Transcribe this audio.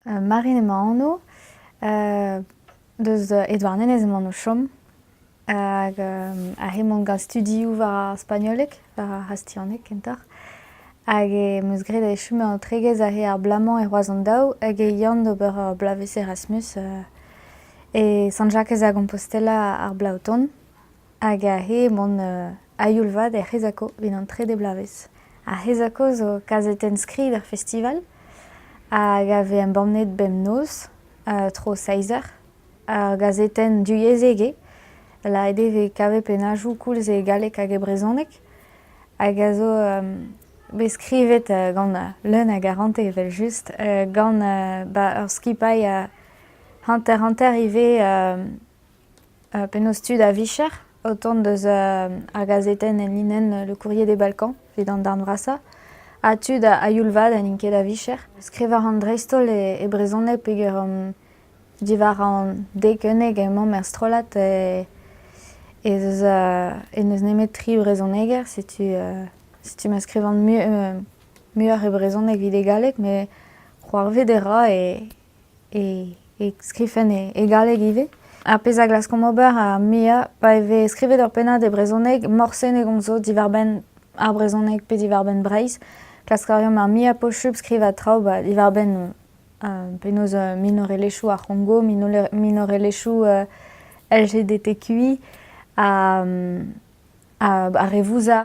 Marin emañ anv. Deus e Douarnenez emaon o chom. Hag ar re 'mañ gant studioù war ar spagnoleg, war ar c'hastilhaneg kentoc'h. Hag em eus graet e chom an tregezh aze ar bloaz-mañ e Roazhon daou hag e yan d'ober ur bloavezh Erasmus e Sant-Jakez-a-Compostela ar bloaz o tont. Hag aze emaon a-youl-vat er C'hezako evit an trede bloavezh. Ar C'hezako zo kazetenn-skrid er festival hag a vez embannet bemnoz tro seizh eur. Ur gazetenn divyezhek eo, laet eo evit kavet pennadoù koulz e galleg hag e brezhoneg hag a zo bet skrivet gant leun a garante evel-just, gant ur skipailh hanter-hanter ivez Penaos tud a-vicher o tont deus ar gazetenn enlinenn Le Courrier des Balkans evit an darn vrasañ ha tud a-youl-vat n'int ket a-vicher. Skrivañ a ran dreist-holl e brezhoneg peger diwar an dekenneg emaomp er strollad ez eus n'eus nemet tri vrezhoneger. Setu setu ma skrivan muioc'h e brezhoneg evit e galleg met c'hoarvet e ra e e skriven e galleg ivez. Ar pezh a glaskomp ober ar muiañ pa e vez skrivet ur pennad e brezhoneg, morse ne gomzo diwar-benn ar brezhoneg pe diwar-benn Breizh. Klask a reomp ar muiañ posupl skrivañ traoù ba diwar-benn penaos minorelezhioù ar C'hongo, minorelezhioù LGBTQI ha re vouzar.